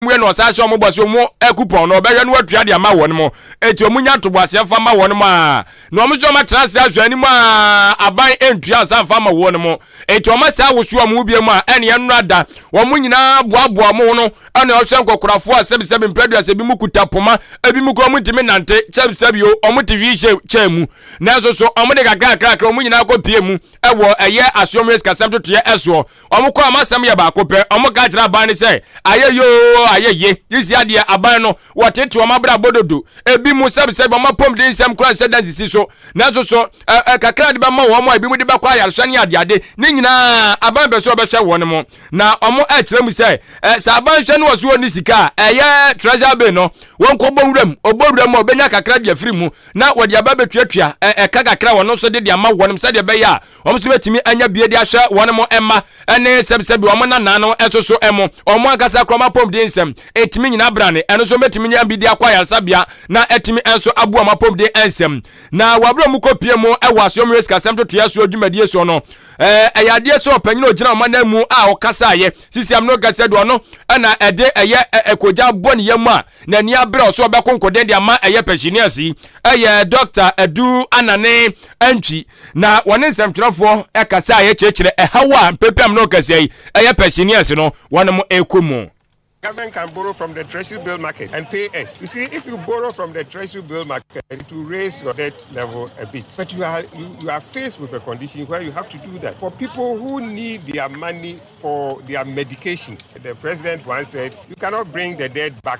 mu yɛ na ɔsan hyɛ wɔn bɔ sɛ wɔn akupɔn no ɔbɛhwɛ no atua de ama wɔn mo eti wɔn nya ntoboaseɛ mfa ma wɔn mo a na wɔn nso wɔn atena ase ahwɛ anim a aban ntua nsa mfa ma wɔn mo eti wɔn asan woso wɔn mu biem a ɛne ɛnora da wɔn nyinaa boaboa wɔn ho no ɛna ɔhwɛ nkɔkorafoɔ a sɛbisɛbi mpɛduasa bi mu kuta poma ebi mu kura wɔn ntumi nante sɛbisɛbi o wɔn te hwi hyɛ kyɛn mu nanso so wɔn de kakra kakra wɔn nyinaa kɔ pie mu ɛwɔ ɛyɛ asoɔmyɛ sikasɛm totoyɛ ɛsoɔ Wɔn kɔ a, wɔn asɛm yɛ baako pɛ. Wɔka kyerɛ aban no sɛ, ayɛ ye oo, ayɛ ye. Sesia deɛ, aban no, wɔtete wɔn abrabɔ dodo. Ebi mu sɛbsɛbi wɔn apɔmudensɛm koraa nhyɛ da nsisi so. Nanso so, ɛ, ɛ, kakra a wɔde bɛma wɔn a ebinom de bɛkɔ ayarehwɛ ne adeade, ne nyinaa, aban pɛ sɛ ɔbɛhwɛ wɔn mo. Na wɔkyerɛ mu sɛ, ɛ, sɛ aban hwɛ ne wɔ so ɔnni sika a, ɛyɛ treasure bin no, wɔnkɔbɔ wuram. Ɔbɔ wuram a, ɔbɛnya kakra de afiri mu, na wɔde aba abɛtuatua, ɛ, ɛka kakra a wɔn nso de de ama wɔn sɛdeɛ ɛbɛyɛ a, Wɔn nso betumi anya bie de ahwɛ wɔn mo mma ne sɛbsɛbi wɔn nanaa no nso so mo wɔn ankasa kura wɔn apɔmuden nsɛm. Etumi nyina brane. Ɛno nso betumi nya bi de akɔ ayaresabea na atumi nso aboa wɔn apɔmuden nsɛm. Na wɔ abere a wɔn kɔ pie mu wɔ asoɛ mu sikasɛm totoeɛ soɔ dwumadie soɔ no, ɛyɛ adeɛ sɛ ɔpanyin a ɔgyina wɔn anan mu a ɔkasaeɛ sisi amino kɛseɛ de ɔno ɛna ɛde ɛyɛ ɛkogya bɔ ne yam a n'ani abere ɔso ɔbɛko nkoden de ama ɛyɛ pɛsinias yi ɛyɛ Dr. Adu Anane Antwi na wɔne nsɛmtwerɛfoɔ kasa a ɛkyerɛkyerɛ ɛhaw a mpempem no kɛseɛ yi ɛyɛ Persianians no wɔn mo ɛkɔ mu. Government can borrow from the treasury bill market and pay us. You see, if you borrow from the treasury bill market, it will raise your debt level a bit. But you are you, you are faced with a condition where you have to do that. For people who need their money for their medication, the president once said, you cannot bring the dead back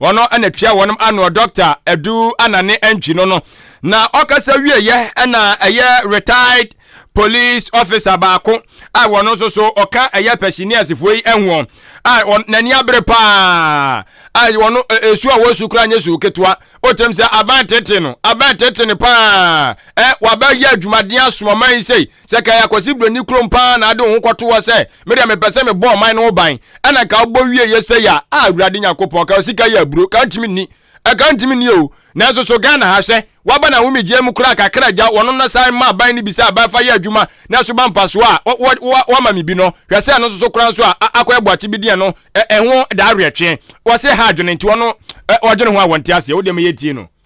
Wɔn na tua wɔn ano Dɔkta Adu Anane Antwi no no na ɔkasa wieɛ na ɛyɛ retired police officer baako a wɔn nso so ɔka ɛyɛ pɛsiniasifoɔ yi ɛhoɔ a n'ani abere paa a wɔn esu a wɔsu kura nye su ketewa otem sɛ aban tete no aban tete no paa ɛ waba yɛ adwumaden asomama yi sei Sɛ ɛka yɛ Akwasi Broni kurom paa na ade wo ho kɔto hɔ sɛ, me deɛ mepɛ sɛ mebɔ ɔman no ho ban, ɛna nka wobɔ wieeɛ sei a, ah Awurade Nyankopɔn, ka sika yɛ aburo, ka ntumi nni, ɛka ntumi nni oo, nanso so Ghana ha, hwɛ, waba n'ahomegyeɛ mu koraa kakra gya, wɔno no san ma aban no bi sɛ aban fa yɛ adwuma na so ba mfasoɔ a wo, wo, wo, woama me bi no, hwɛ sɛ ɛno nso so koraa nso a, a akɔyɛ boakye bi deɛ no, ɛ, ɛho da awerɛtweɛ, wɔse ha adwene nti wɔno, ɛ, wɔdwene ho a wɔnte aseɛ, wo deɛ meyɛ tie no.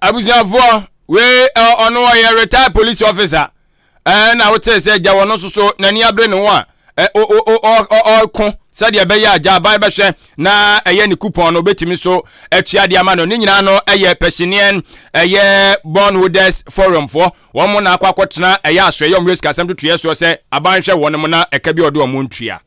abusuafoɔ wei ɔno ɔyɛ retired police officer ɛna wote sɛ gya wɔn nso so n'ani abere ne ho a ɔko sɛdeɛ ɛbɛyɛ agya aban bɛhwɛ na ɛyɛ ne coupon no obɛtumi so atua de ama no ne nyinaa no ɛyɛ pɛsineɛn ɛyɛ born holders forum foɔ wɔn mo na akɔ akɔtena ɛyɛ asoɛyɛ ɔmo yɛ sikasɛm totoyɛ soɔ sɛ aban hwɛ wɔn mo na ɛka bi ɔde ɔmo ntua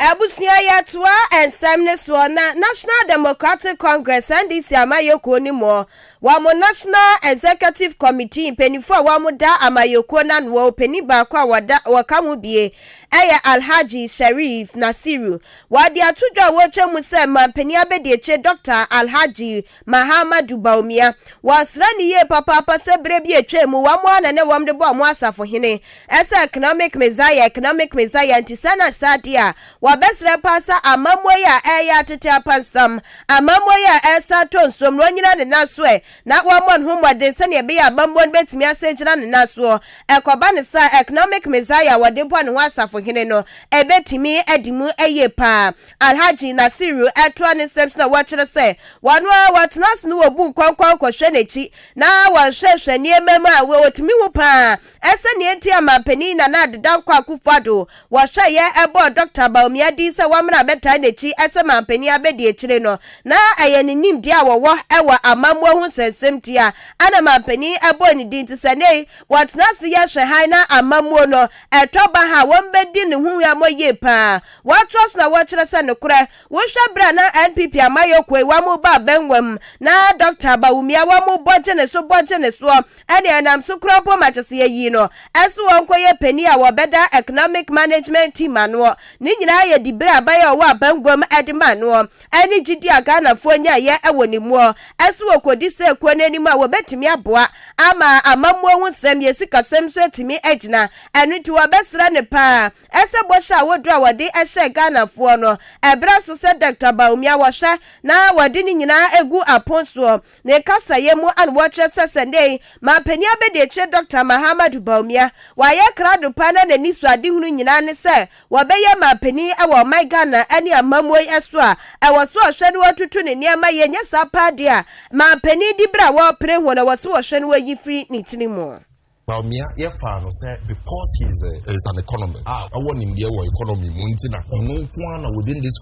Abusua yɛtoa nsɛm no soɔ na National Democratic Congress NDC amayɛkuo no mu wɔn National Executive Committee mpaninfoɔ a wɔn da amayɛkuo no anoɔ ɔpanin baako a wɔda wɔka ho bie ɛyɛ Alhaji Sharif Nasiru wɔde ato dwa a wɔrekyɛ mu sɛ mampanin abɛdiakyire Dɔkta Alhaji Mahamadou Bawumia. Wɔasra no yie papaapa sɛ berɛ bi a ɛtwaam mu wɔn ara na na wɔde bɔ wɔn asafohene sɛ economic messiah, economic messiah, nti sɛ na saa deɛ a, wɔbɛsrɛ paa sɛ amammuo yi a ɛreyɛ atete apansam, amammuo yi a ɛresan atɔ nsuom no, ɔnnyina ne nan so ɛ, na wɔmmɔ ne ho mmɔden sɛdeɛ ɛbɛyɛ a amammuo no bɛtumi asan agyina ne nan soɔ. Ɛkɔba no saa a, economic messiah a wɔde bɔ ne ho asafohene no, ɛbɛtumi adi mu yie paa. Alhaji Nasiru ɛtoa ne nsɛm so na wɔkyerɛ sɛ wɔn ara wɔtena ase na wɔbu nkɔnkɔn kɔhwɛ n'akyi na wɔhwɛhwɛ nneɛma mu a wɔtumi hu pa ara. Ɛsɛ nea enti a Manpanin Nana Addo Dankwa Akufo-Addo wɔhwɛeɛ ɛbɔɔ Dɔkta Bawumia din sɛ wɔmmra bɛtaa n'akyi sɛ Manpanin abɛdiakyire no na ɛyɛ ne nimdeɛ a wɔwɔ wɔ amammuo ho nsɛnsɛm nti a ɛna Manpanin ɛbɔɔ ne din nti sɛ nnɛ yi wɔtena ase yɛ hwɛ hann na amammuo no ɛtɔ baha a wɔbɛdi ne ho huammɔ yie pa ara. Wɔatoa so na wɔkyerɛ sɛ nokorɛ wohwɛ berɛ a na NPP amayɔkuo yi wɔn ba abɛnwa mu na Dɔkta Bawumia wɔn bɔ gye ne so bɔ gye ne soɔ ɛne ɛnam so kura mpo ma kyɛsɛ yɛyii no ɛse ɔnkɔyɛ panin a wɔbɛda Economic Management Team anoɔ ne nyinaa yɛ diberɛ a aban a ɔwɔ abɛnwa mu ɛde maa noɔ ɛne gyidie a Ghanafoɔ nyaeɛ ɛwɔ ne muɔ ɛse wɔkɔdi saa ekuo no anim a wɔbɛtumi aboa ama amammuo ho nsɛm yɛ sikasɛm nso atumi agyina ɛno nti wɔbɛsrɛ no paa Ɛsɛ bɔhyɛ a woduru a wɔde hyɛɛ Ghanafoɔ no. Ɛberɛ so sɛ Doctor Bawumia wɔhwɛ na wɔde ne nyinaa ɛgu apon soɔ. Ne kasaeɛ mu a na wɔkyerɛ sɛ sɛ nnɛ yi Mampanin Abɛdiakyire Doctor Mahamadou Bawumia wayɛ krado paa na n'ani sɔ adehunu nyinaa ne sɛ wɔbɛyɛ Mampanin wɔ ɔman Ghana ne amammuo yi so a ɛwɔ sɛ ɔhwɛ na ɔtutu ne nneɛma yie nyɛ saa paa deɛ a Mampanin diberɛ a wɔrepere ho no ɛwɔ sɛ wɔhwɛ na wɔyi firi ne tiri mu. Bawumia yɛfaa no sɛ because he is, a, is an economist a ɔwɔ nimdeɛ wɔ economy mu nti na ɔno nko ara na within this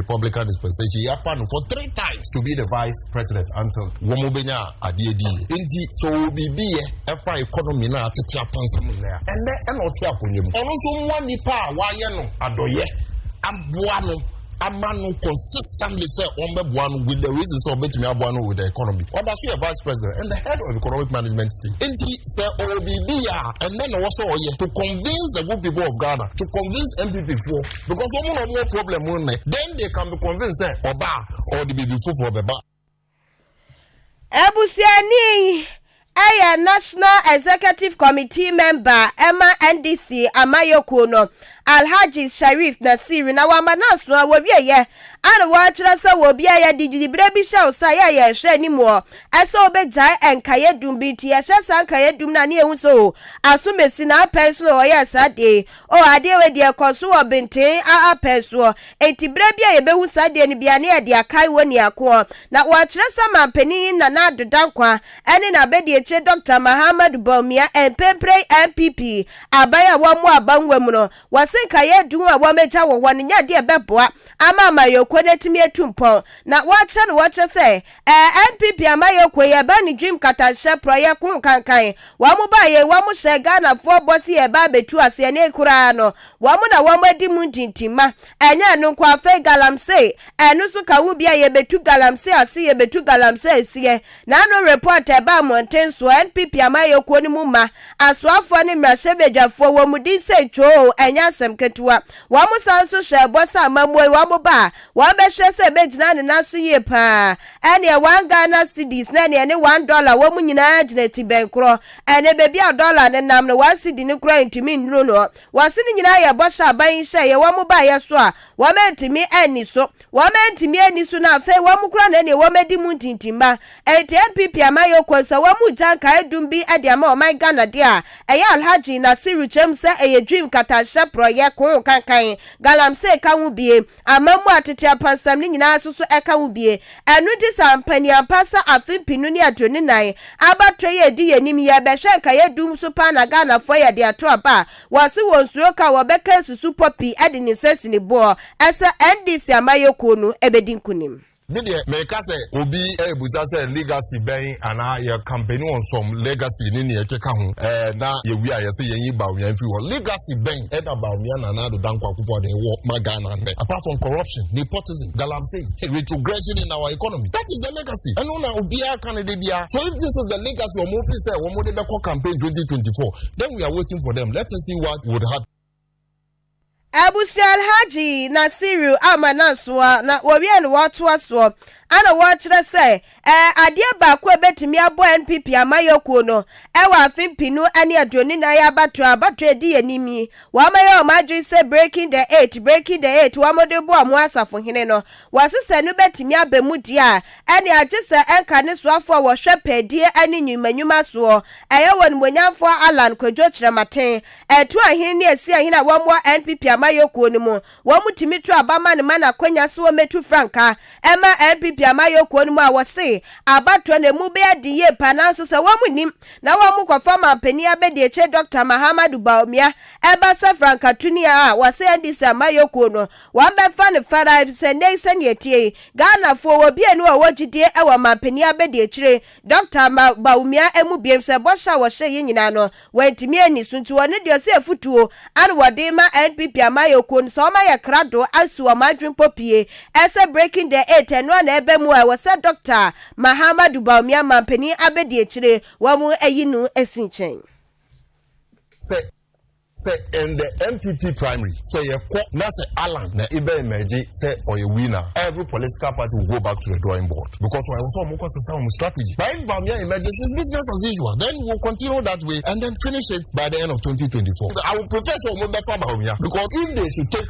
Republican dispensation yɛafa no for three times to be the vice president until wɔn bɛnya adeɛ di yɛ nti sɛ ɔwɔ biribi yɛ ɛfa economy no a atete apansam nnɛ a ɛnnɛ ɛna ɔte akonnwa mu ɔno nso mmoa nipa a wayɛ no adɔyɛ aboa no ama no consistently sɛ ɔmbɛboa no with the reason sɛ ɔbɛtumi aboa no with the economy ɔda so yɛ vice president and the head of economic management team nti sɛ ɔwɔ biribi yɛ a ɛnɛ na wɔsɛ ɔyɛ to convince the good people of ghana to convince npp foɔ because wɔn na wɔn problem mu nnɛ then they can be convinced sɛ ɔba a ɔde biribi foforɔ bɛba. Abusuani yi yɛ National Executive Committee member ma NDC amayɛkuo no, Alhaji Sharif Nasir, na wama no aso a wɔwieɛ a na wɔkyerɛ sɛ wɔ obi a yɛde diberɛ bi hyɛ wo sa yɛ a yɛhwɛ anim hɔ sɛ wobɛgyae nkaeɛdum bi nti yɛhwɛ saa nkaeɛdum no a ne yɛhu sɛ oo, asomasi na apɛn nso na wɔyɛɛ saa adeɛ yi. O, adeɛ wei deɛ ɛkɔ so wɔ benten aa pɛn soɔ, enti berɛ bi a yɛbɛhu saa adeɛ no bi a, na yɛde akae wɔ nia koɔ. Na wɔakyerɛ sɛ manpanin yi Nana Addo Dankwa ne n'abadiakyire Dɔkta Mahaamadu Bawumia mprempren NPP aban a wɔmmoa aba nwura mu no, wɔse nkaeɛ du ho a wɔagya wɔ hɔ no nyɛ adeɛ a ɛbɛboa ama amanyɔkuo no atumi atu mpɔn na wɔakyerɛ no wɔkyerɛ sɛ Ɛɛ NPP amayɛkuo yɛ ba ne dwim katanhyɛ prɔyɛ ko nkankan wɔn ba yei wɔn hyɛ Ghana foɔ bɔ se yɛ ba abɛtu aseɛ nei koraa no wɔn na wɔn adi mu ntintim ma ɛnyɛ ɛno nko afei galamsey ɛno so ka ho bia yɛbɛtu galamsey ase yɛbɛtu galamsey aseɛ na ano report ɛba mmɔnten soɔ NPP amayɛkuo no mu mma asoafoɔ ne mmarahyɛbadwafoɔ wɔn din sei twooo ɛnyɛ asɛm ketewa wɔn san nso hyɛ bɔ sɛ amamuo yi wɔn ba a Wɔbɛhwɛ sɛ ebegyina ne nan so yie pa ara. Ɛnneɛ one Ghana cedis ne deɛ ɛne one dollar wɔ mu nyinaa gyina ti bɛn korɔ? Ɛnneɛ baabi a dollar no nam no, one cedi no koraa ntumi nnuru no. Wɔse ne nyinaa yɛ bɔhyɛ a aban yi hyɛeɛ, wɔn baeɛ so a, wɔantumi anni so. Wɔantumi anni so no, afei wɔn koraa na ɛnneɛ wɔadi mu ntintimma. Enti NPP amanyɔkuo no, sɛ wɔregya nkaeɛdum bi de ama ɔman Ghana deɛ a, ɛyɛ Alhaji Nasiru Kyerɛ mu sɛ ɛyɛ Dream, Nkatahyɛ, Porɔeɛ, Koo, Kankan, Galamsey ka ho biem. Amammu a tete apansam no nyinaa nso so ka ho bie. Ɛno nti sɛ ampa ni ampa sɛ afe mpenu ne aduonu nnan abatoɔ yi a ɛdi yɛn anim yi ɛbɛhwɛ nkaeɛ dum so paa na Ghanafoɔ yɛ de ato aba a, wɔse wɔn suro ka a wɔbɛka asusu Poppy de ne nsɛsini boɔ sɛ NDC amayɛkuo no bɛdi nkunim. Me deɛ meka sɛ obi ɛɛbusa sɛ legacy bɛn anaa yɛ campaign on some legacy ne nea ɛkeka ho ɛɛ na yɛwie a yɛse yɛnyi Bawumia mfiri hɔ. Legacy bɛn ɛna Bawumia Nana Addo Dankwa Akufo-Addo wɔ ma Ghana nnɛ apart from corruption, nepotism, galamsey, retrogression in our economy. That is the legacy. Ɛno na obiara ka no da biara. So if this is the legacy wɔn fi sɛ wɔn de bɛkɔ campaign twenty twenty four then we are waiting for them. Let us see what would happen. Abusua Alhaji Nasiru Amanansoa na wɔwie na wɔatoa soɔ ɛna wɔkyerɛ sɛ ɛɛ adeɛ baako a ɛbɛtumi aboa NPP amayɔkuo no ɛwɔ afe mpenu ɛne aduonu nan abatoɔ a abatoɔ a ɛdi anim yi wɔayɛ wɔn adwene sɛ breaking the eight breaking the eight wɔde boa wɔn asafohene no wɔse sɛ ɛno bɛtumi aba mu deɛ a ɛne agye sɛ ɛnka ne soafoɔ a wɔhwɛ pɛɛdie ɛne nnwuma nnwuma soɔ ɛyɛ wɔn nimonyamfoɔ Allan Kwadwo Kyerɛmaten Ɛtoa he ne ɛsia he na wɔwɔ NPP amayɔkuo no mu. Wɔtumi to aba ma no ma no akwanya so ɔmmɛtu frankaa mma NPP amayɔkuo no mu a wɔse abatoɔ no emu bɛyɛ den yie paa nanso sɛ wɔnnim na wɔkɔfa manpanin abɛdiakyire Dɔkta Mahamadou Bawumia ba sɛ frankatuni a wɔse NDC amayɔkuo no wɔbɛfa no fɛrɛ efisɛ nnɛyi sɛnea ɛteɛ yi Ghanafoɔ wɔ bianu a wɔwɔ gyidie wɔ manpanin abɛdiakyire Dɔkta Bawumia amu biem sɛ bɔhyɛ a wɔhyɛɛ yi nyinaa no, wɔantumi anni so nti ɔno deɛ ɔse afutuo ana wɔde rema NPP amayɛkuo no sɛ wɔmayɛ krado asi wɔn adwene pɔ pie ɛsɛ breaking the eight ɛno ana ɛba mu a ɛwɔ sɛ Dɔkta Mahamadou Bawumia manpanin abɛdi akyire wɔn ayi no asi nkyɛn. Sɛ. Sɛ in the NPP primary sɛ yɛ kɔ na sɛ Allan na ebɛ emerge sɛ ɔyɛ winner a, every political party will go back to the drawing board because ɔyɛ sɛ ɔmo kɔ sesa ɔmo strategy but if Bawumia emerges it's business as usual then we will continue that way and then finish it by the end of twenty twenty four I will prefer sɛ ɔmo bɛ fa Bawumia because if they should take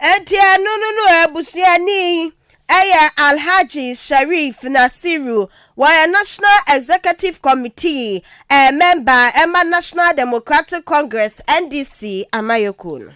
Enti ɛno no no abusuani yɛ Alhaji Sharif Nasiru, wɔyɛ National Executive Committee eh, member ɛma National Democratic Congress, NDC, amayɛkuo no.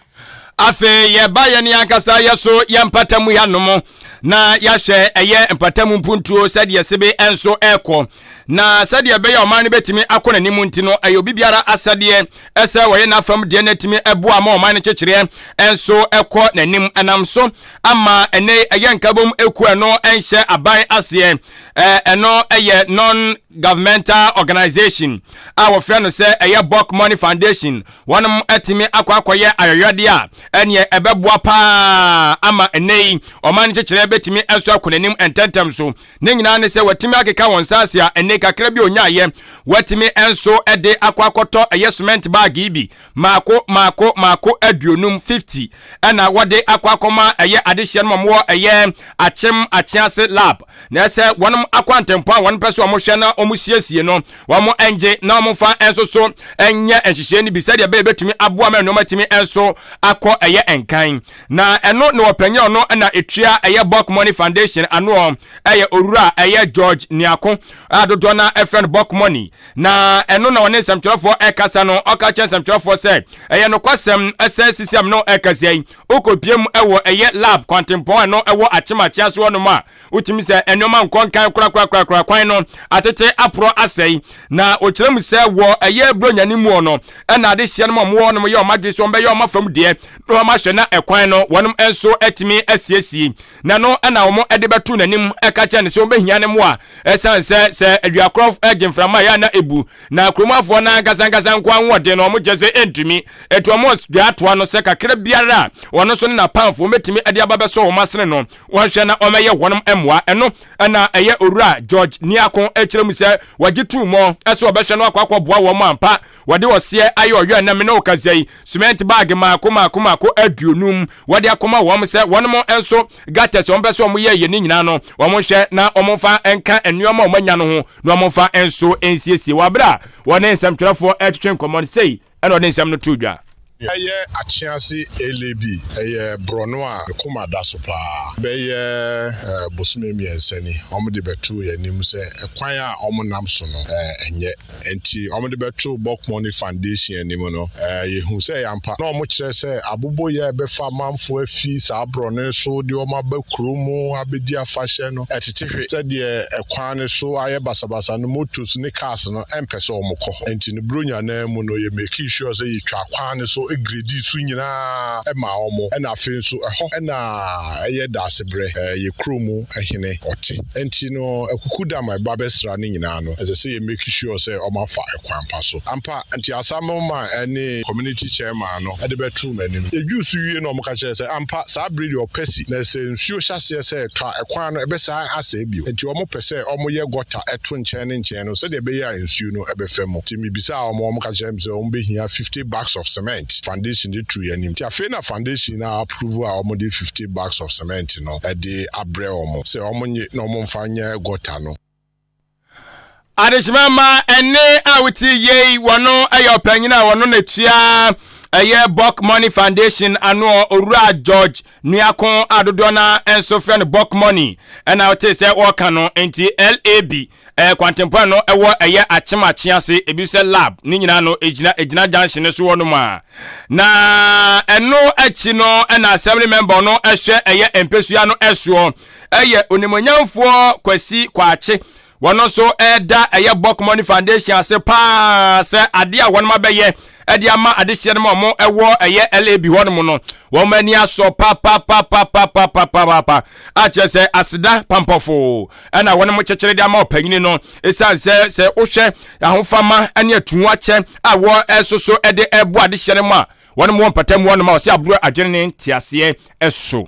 Afei yɛba yɛn ankasa yɛ so yɛ mpatamu yɛanom na yɛahwɛ ɛyɛ mpatamu mpuntuo sɛdeɛ sebe nso ɛrekɔ. na sɛdeɛ ɛbɛyɛ ɔman no bɛtumi akɔ n'anim nti no ɛyɛ obi biara asɛdeɛ ɛsɛ wɔyɛ n'afam deɛ no atumi ɛboa ma ɔman no kyekyereɛ ɛnso ɛkɔ n'anim ɛnam so ama ɛnɛ ɛyɛ nkabom eku ɛno ɛnhyɛ aban aseɛ ɛɛ ɛno ɛyɛ non governmental organization a wɔfrɛ no sɛ ɛyɛ Buck Money Foundation wɔnom atumi akɔ akɔyɛ ayɔyɔdeɛ a ɛneɛ ɛbɛboa paa ama ɛnɛ yi ɔman no kyekyereɛ bɛtumi ɛnso akɔ n'anim ntɛntɛm so Ne nyinaa ne sɛ watumi akeka wɔn nsa ase a ɛnne kakra bi onyaeɛ. Watumi nso de akɔ akɔtɔ ɛyɛ cement baage bi maako maako maako aduonum fifty ɛna wɔde akɔ akɔma ɛyɛ adehyeɛ no wɔn wɔ ɛyɛ akyem akyease lab na ɛsɛ wɔn akɔ antempɔn a wɔn pɛ so wɔn hwɛ na wɔn siesie no wɔn ngye na wɔn fa nso so nyɛ nhyehyɛe no bi sɛdeɛ ɛbɛyɛ bɛtumi aboa ma nneɛma tumi nso akɔ ɛyɛ nkan Na ɛno ne ɔpanyin a ɔno na etua ɛyɛ Buck Money Foundation ano ɔ, ɛyɛ Owura ɛyɛ George Niako a dodoɔ no ara frɛ no Buck Money. Na ɛno na ɔne nsɛmtwerɛfoɔ ɛkasa no, ɔka kyerɛ nsɛmtwerɛfoɔ sɛ, Ɛyɛ nokwasɛm sɛ sisi a me ne wo ɛkasa yi, wokɔpie mu wɔ ɛyɛ lab kwantempɔn a ɛno ɛwɔ Akyem Akyeaso hɔnom a, Wotumi sɛ nneɛma nkɔ nkan korakorakorakora kwan no atete aporɔ asɛe. Na wɔkyerɛ mu sɛ wɔ ɛyɛ buronyane muɔ no ɛna adehyeɛ nom a wɔwɔ nom yɛ wɔn adwene sɛ wɔn bɛyɛ wɔn afam deɛ na wɔn ahwɛ na ɛkwan no wɔnom nso atumi asiesie. Na ɛno ɛna wɔn ɛde bɛto n'anim ɛka kyerɛ no sɛ wɔbɛhia ne moa ɛsiane sɛ sɛ aduakorɔ ɛgye mframa yɛ ana ɛbu. Na kuromuafoɔ no ankasa ankasa nkoa ahoɔden no wɔn gyɛ sɛ ɛntumi. Ɛti wɔn dwaatoa no sɛ kakra biara a wɔn nso ne n'apamfoɔ wɔbɛtumi ɛde aba bɛsɔ wɔn asene no wɔnhwɛ na wɔmmɛyɛ hɔnom mmoa. Ɛno na ɛyɛ Owura George Niako kyerɛ mu sɛ wɔagye tum mɔ sɛ wɔbɛhwɛ na wɔakɔ akɔboa wɔn ampa. Wɔde ɔseɛ ayɛ ɔyɔ ɛnnɛ me ne wo kasa yi, sumɛnte baage mmaako mmaako mmaako aduonum wɔde akɔma wɔn sɛ wɔnom nso gutters a wɔpɛ sɛ wɔyɛ yɛ ne nyinaa no wɔnhwɛ na wɔmfa nka nneɛma a wɔanya no ho na wɔmfa nso nsiesie wɔ aberɛ a wɔne nsɛmtwerɛfoɔ ɛretwetwe nkɔmmɔ no sei. Ɛnna ɔde nsɛm no too dwa. Ɛyɛ akyease ele bi. Ɛyɛ borɔno a me koma da so paa. Bɛyɛ bosome mmiɛnsa ni, wɔde bɛtoo yɛn anim sɛ kwan a wɔnam so no nyɛ. Enti wɔde bɛtoo Boc Money Foundation anim no, yɛhuu sɛ ɛyɛ ampa. Na wɔkyerɛ sɛ aboboyɛ a ɛbɛfa amanfoɔ afi saa borɔno yi so de wɔn aba kurom abɛdi afahyɛ no tete hwe. Sɛdeɛ kwan no so ayɛ basabasa no, motos ne cars no. ɛmpɛ sɛ wɔn kɔ hɔ. Nti no Buronya no ara mu no yɛ makii sure sɛ yɛ twaa kwan no so gradii so nyinaa maa wɔn ɛna afei nso ɛhɔ na ɛyɛ daasebrɛ yɛ kuro mu hene ɔte. Nti no akuku dam a ɛba bɛsra no nyinaa no ɛsɛ sɛ yɛ make sure sɛ wɔn afa kwan pa so. Ampa nti asamble man ɛne community chairman no ɛde bɛtoo m'anim. Yɛ dwuu so wie no wɔn ka kyerɛ sɛ ampa saa bere deɛ ɔpɛ si na sɛ nsuo hyɛ aseɛ sɛ tɔ a ɛkwan no ɛbɛ san asɛe bio. Nti wɔn pɛ sɛ wɔn yɛ gɔta ɛto nkyɛn ne nkyɛn. ahyɛn no sɛdeɛ ɛbɛyɛ a nsuo no bɛfa mu. Nti mebisaa wɔn, wɔn ka kyerɛɛ me sɛ wɔn bɛhia fifty bags of cement, foundation de turu anim. Nti afei na foundation no approve a wɔn de fifty bags of cement no de abrɛ wɔn sɛ wɔn nye na wɔn mfa nyɛ gutter no. Adehyema mma ɛne a wotie yei wɔno ɛyɛ ɔpanyin a wɔno na tua ɛyɛ Buck Money Foundation ano owura George Nuako a dodoɔ no ara nso frɛ no Buck Money ɛna wote sɛ wɔka no nti LAB Ɛɛ kwantempɔn no ɛwɔ ɛyɛ akyem akye ase ebi sɛ lab ne nyinaa no egyina egyina junction no so hɔ nom a na ɛno akyi no ɛna assembly member no ɛhwɛ ɛyɛ mpesua no ɛsoɔ ɛyɛ onimonyamfoɔ kwasi kwaakye wɔn nso ɛda ɛyɛ bɔk money foundation ase paa sɛ adeɛ a wɔn abɛyɛ ɛde ama adehyeɛ no ma wɔn ɛwɔ ɛyɛ lab hɔ nom no wɔn ani asɔ papapapapapapapa akyerɛ sɛ aseda pampɔfo ɛna wɔnom kyekyere de ama ɔpanyini no ɛsiane sɛ sɛ wohwɛ ahofama ne atuho akyɛ a wɔ ɛsoso ɛde ɛbo adehyeɛ no mu a wɔnom wɔ mpata mu wɔnom a wɔsɛ aburo adwene ne nteaseɛ ɛso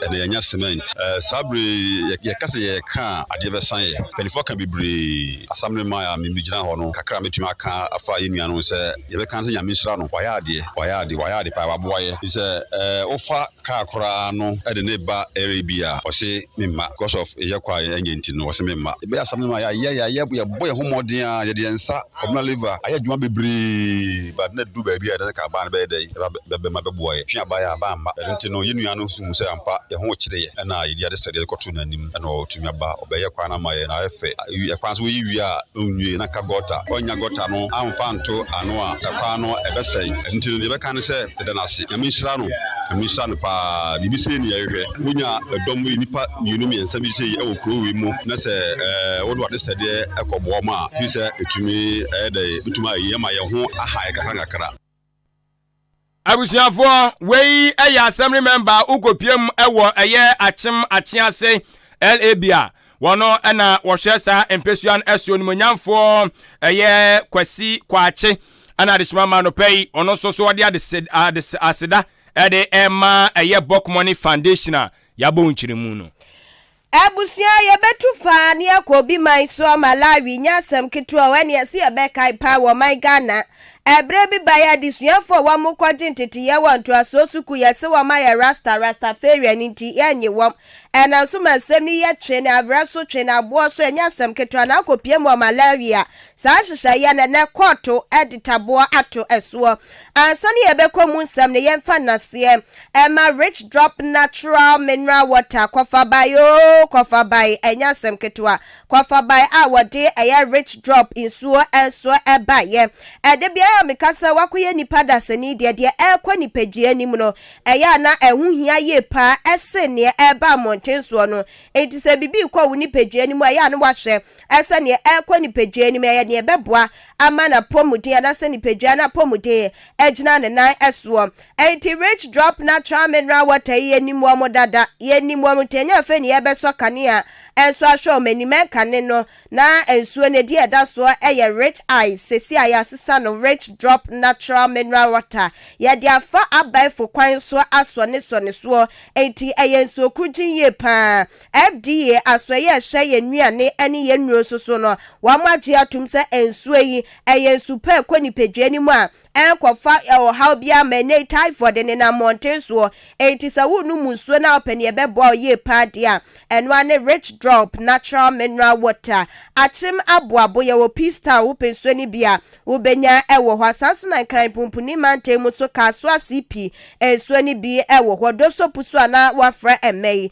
ɛna yɛanya cement. Eh, saa bere yɛka sɛ yɛka a adeɛ bɛsan yɛ mpanyinfoɔ ka bebree asamene ma a megyina hɔ no kakra mɛtumi aka afa yɛ nua no sɛ yɛbɛka sɛ nyame nhyira no wayɛ adeɛ wayɛ adeɛ wayɛ adeɛ paa waboa yɛ sɛ eh, wofa Kaa koraa no de ne ba ɛre bi a ɔse memma because of yɛ kɔ a yɛnyɛ nti no ɔse memma ɛbɛyɛ asɛm no ma yɛayɛ yɛayɛ yɛbɔ yɛn ho mmɔden a yɛde yɛn nsa communal liver ayɛ adwuma bebree but na ɛdu baabi a yɛde ne kaa baa no bɛyɛ dɛn ɛba bɛma bɛboa yɛ twe abaeɛ a bamma ɛno nti no yɛn nua no nso hu sɛ ampa yɛn ho kyere yɛ ɛna yɛde adesrɛdeɛ kɔto n'anim ɛna ɔtumi aba ɔbɛyɛ kwan no ama yɛn na ayɛ fɛ. Awi, kwan so woyi wie a na onwie na ka gɔta. Ɔnnya gɔta no amfa nto ano a, kwan no ɛbɛsɛe. Ɛno nti no, deɛ yɛbɛka ne sɛ yɛda no ase. Nyame nhyira no. Nyame nhyira no pa ara. Biribi sei ne yɛhwehwɛ. Wonya dɔm wei, nnipa mmienu mmiɛnsa bi sei wɔ kuro wei mu na sɛ ɛɛ wode w'ade sɛdeɛ kɔboa wɔn a, ɛfiri sɛ ɛtumi ɛyɛ dɛn, ɛbɛtumi ayi ama yɛn ho aha yɛn kakra nkakra. abusuafoɔ wei ɛyɛ assembly member wokɔpiem ɛwɔ ɛyɛ akyem akyease labia wɔn ɛna wɔhwɛ saa mpɛsua no ɛso nimonyamfoɔ ɛyɛ kwasi kwaakye ɛna adesoma ma no pɛ yi ɔno nso so ɔde aseda ɛde ɛma ɛyɛ bɔkmɔne foundation a yɛabɔ nkyerɛmu no Abusua, yɛbɛtu fa ne akɔ obi man soɔ, Malawi, nyɛ asɛm ketewa o, ɛne ɛse yɛbɛkae paa wɔ ɔman Ghana. Ɛberɛ bi baeɛ adesuafoɔ a wɔn rekɔgye nteteeɛ wɔ ntoasoɔ sukuu, yɛse wɔn ayɛ Rasta, Rastafarian, nti yɛnnye wɔn. Ɛnam so ma nsɛm no yɛ twe ne awerɛ so, twe ne aboɔ so, ɛnyɛ asɛm ketewa, na akɔpue mu wɔ Malawi a, saa nhyehyɛeɛ no ɛnnɛ kɔɔto de taboɔ ato soɔ. Ansa na yɛbɛkɔ mu nsɛm no, yɛmfa nnaseɛ ɛma Rich Drop Natural Mineral Water, Kɔfabae oo, Kɔfabae, ɛnyɛ asɛm ketewa, Kɔfabae a wɔde ɛyɛ Rich Drop nsuo nso baeɛ. Ɛda biara a meka sɛ woakɔyɛ nipa dasani deɛ, deɛ ɛrekɔ nipadua anim no, ɛyɛ a na ɛho hia yie paa sen deɛ ɛreba mmɔnten soɔ no. Enti sɛ biribi rekɔ wo nipadua no mu a, ɛyɛ a na woahwɛ sɛ nea ɛrekɔ nipadua anim yɛ nea ɛbɛboa ama n'apɔmuden anaasɛ nipadua no apɔmuden agyina ne nan soɔ. Enti Rich Drop Natural Mineral Water yi yɛnim wɔn dada, yɛnim wɔn nti ɛnyɛ afei na yɛrebɛsɔ kanea nso ahwɛ wɔn anim, ɛnkane no na nsuo no ɛdeɛ ɛda soɔ yɛ Rich Ice, seesei a yɛasesa no Rich Drop Natural Mineral Water. Yɛde afa abɛɛfo kwan so asɔ ne sɔ ne soɔ, enti ɛyɛ nsuo korugyenn yie pa ara. FDA asoɛeɛ a ɛhwɛ yɛn nnuane ne yɛn nnuro nso so no, wɔagye atom sɛ nsuo yi yɛ nsu pa a ɛkɔ nipadua no mu a ɛnkɔfa ɔhaw biara mma. Ɛnnɛ yi typhoid nenam mmɔnten soɔ, enti sɛ worenom nsuo no a wopɛ deɛ ɛbɛboa wo yie pa ara deɛ a, ɛno ara ne Rich Drop Natural Mineral Water. Akyem Aboabo, Yɛwɔ Peacetown a wopɛ nsuo no bi a, wobɛnya wɔ hɔ. Saa ara nso na Nkran Mpunpuni mantam mu nso Kasoa CP nsuo no bi wɔ hɔ. Doso Pusu a na wɔafrɛ ɛmmɛ yi,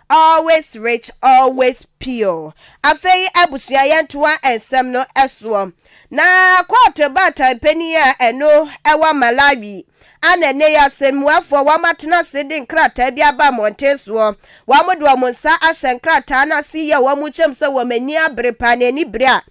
Always rich, always pure. Afei abusua yɛntoa nsɛm no soɔ. Na court baatan panin a ɛno ɛwɔ Malawi a na ɛnɛ yi asɛmmuafoɔ wɔn atena ase de nkrataa bi aba mmɔnten soɔ. Wɔn de wɔn nsa ahyɛ nkrataa no ase yi a wɔn kyɛm sɛ wɔn ani abere paa na anibere a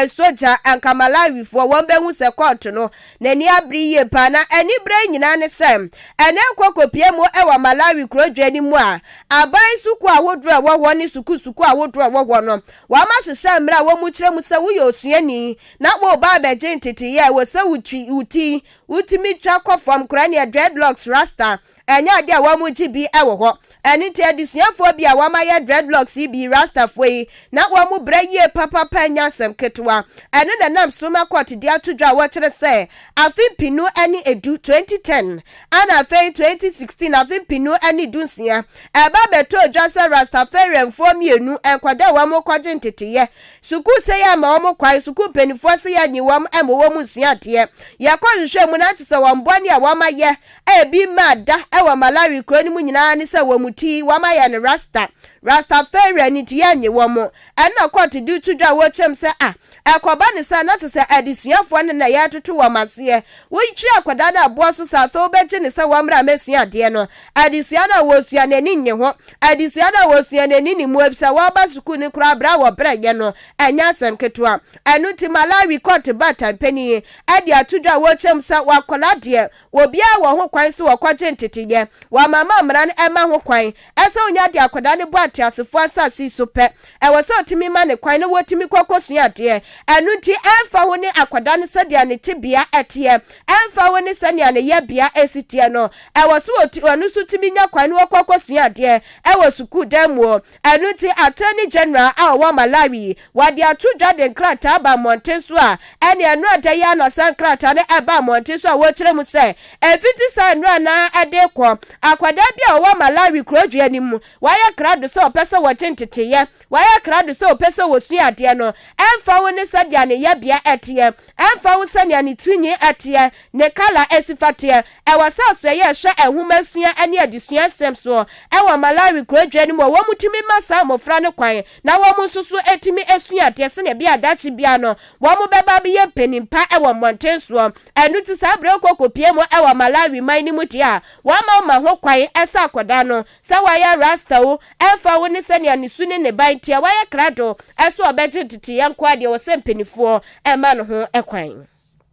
Sogya, anka Malawifoɔ wɔn bɛhu sɛ kɔɔto no n'ani abere yie paa. Na anibere yi nyinaa ne sɛ, ɛnnɛ nkɔkɔpie mu wɔ Malawi kurodwoɔ no mu a, aban sukuu ahodoɔ a ɛwɔ hɔ ne sukuu sukuu ahodoɔ a ɛwɔ hɔ no, wɔahyehyɛ mmara a wɔkyerɛ mu sɛ woyɛ osuani na woreba abɛgye nteteeɛ a ɛwɔ sɛ wo ti wotumi twa kɔ fam koraa nea dreadlocks, rasta, Ɛnyɛ ade a wɔn gye bi wɔ hɔ. Ɛno nti adesuafoɔ bi a wɔn ayɛ dreadlocks yi bii Rastafoɔ yi na wɔn mu brɛ yie papapa nyɛ asɛm ketewa. Ɛno na ɛnam Sroma Court de ato dwa a wɔkyerɛ sɛ afe mpenu ne edu, 2010, ɛna afei 2016, afe mpenu ne du nsia, ɛba bɛtɔɔ dwa sɛ Rastafarianfoɔ mmienu, nkwadaa a wɔn rekɔgye nteteeɛ, sukuu sɛ yɛmma wɔn kwan, sukuu mpanimfoɔ sɛ yɛnnye wɔn mma wɔn nsua adeɛ. Yɛkɔhwehwɛɛ mu na te sɛ wɔn bɔne a wɔn ayɛ a ebi mmaa da wɔ Malawi kurow no mu nyinaa ne sɛ wɔn ti, wɔayɛ no rasta. Rastafarian nti yɛnnye wɔn. Ɛnna kɔɔto de to dwa a wɔkyɛm sɛ, Ah, ɛkɔba no saa na kyerɛ sɛ adesuafoɔ no na yɛretoto wɔn aseɛ. Wokyiri akwadaa no aboɔ so saa, afei wobɛgye no sɛ wɔmmra mmɛsua adeɛ no. Adesua no a wɔresua no ani nnye ho. Adesua no a wɔresua no ani nni mu efisɛ wɔreba sukuu no koraa bere a wɔbrɛeɛ no, ɛnyɛ asɛm ketewa. Ɛno nti Malawi kɔɔto baatan panin de ato dwa a wɔkyɛm sɛ wɔakɔla deɛ Wɔ biaa wɔ ho kwan sɛ wɔkɔgye nteteyɛ wɔ amanaman a mmara no mma ho kwan sɛ wonya de akɔda ne bo ateasefoɔ asase yi so pɛ. Ɛwɔ sɛ ɔtumi ma ne kwan na wɔtumi kɔ kɔsua adeɛ. Ɛno nti ɛmfa ho ne akɔda no sɛdeɛ ne tebea teɛ, ɛmfa ho ne sɛnea ne yɛbea si teɛ no, ɛwɔ sɛ ɔno nso tumi nya kwan na ɔkɔ kɔsua adeɛ wɔ sukuudan mu o, Ɛno nti Attorney General a ɔwɔ Malawi yi, wɔde ato dwa de nkrataa aba mmɔnten so a ɛne nnora da yi ara na saa nkrataa no ɛbaa mmɔnten so a wɔrekyerɛ mu sɛ ɛmfiti saa nnora no ara ɛde rekɔ akwadaa bi a ɔwɔ Malawi kurodwoeɛ no mu wayɛ krado sɛ ɔpɛ sɛ wɔgye nteteeɛ, wayɛ krado sɛ ɔpɛ sɛ ɔsua adeɛ no ɛmfa ho ne sɛdeɛ ne yɛbea ɛteɛ. Ɛmfa ho sɛnea ne tirinwi teɛ, ne kala a esi fa teɛ, ɛwɔ sɛ ɔsɔ yɛ hwɛ nhomasua ne adesua nsɛm so wɔ Malawi kurodwoe no mu a wɔtumi ma saa mmofra no kwan na wɔn nso so tumi sua adeɛ sɛnea ɛbɛyɛ a daakye biara no wɔbɛba abɛyɛ mpanyin pa wɔ mmɔnten soɔ. Ɛno nti saa bere a wokɔ kɔpie mu wɔ Malawi man no mu deɛ a, wɔmma woma ho kwan sɛ akwadaa no Sɛ wayɛ rasta o, ɛmfa ho ne sɛnea ne su ne ne ban teɛ, wayɛ krado, ɛso ɔbɛgye nteteyɛ nko ara deɛ ɔsɛ mpaninfoɔ mma no ho kwan.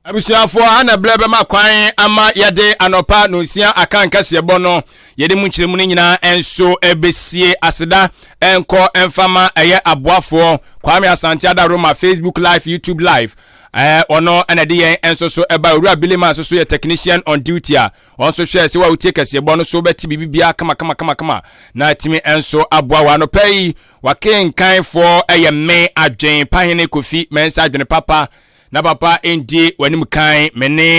Abusuafoɔ, ana berɛ bɛma kwan ama yɛde anɔpa nonsia aka nkaseɛbɔ no, yɛde mu nkyerɛmu no nyinaa nso bɛsie aseda nkɔ mfa ma ɛyɛ aboafoɔ Kwame Asante Ada Roma Facebook live, YouTube live, ɛɛ ɔno na ɛde yɛn nso so ɛba Owura Billy Man nso so yɛ technician on duty a Wɔn nso hwɛɛ sɛ wɔawotie kɛseɛbɔ no so bɛte biribiara kamakamakama na atumi nso aboa wɔ anɔpa yi. Wakenkanfoɔ ɛyɛ me adwen Pahene Kofi Mensah adwene papa na papa ndi w'anim kan me ne.